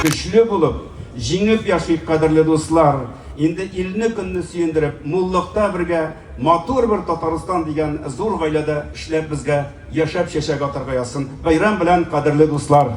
Көчле булып, җиңеп яшик, кадерле дуслар! Инде илне, көнне сөендереп, муллыкта бергә, матур бер Татарстан дигән зур гаиләдә эшләп безгә, яшәп чәчәк атарга язсын! Бәйрәм белән, кадерле дуслар!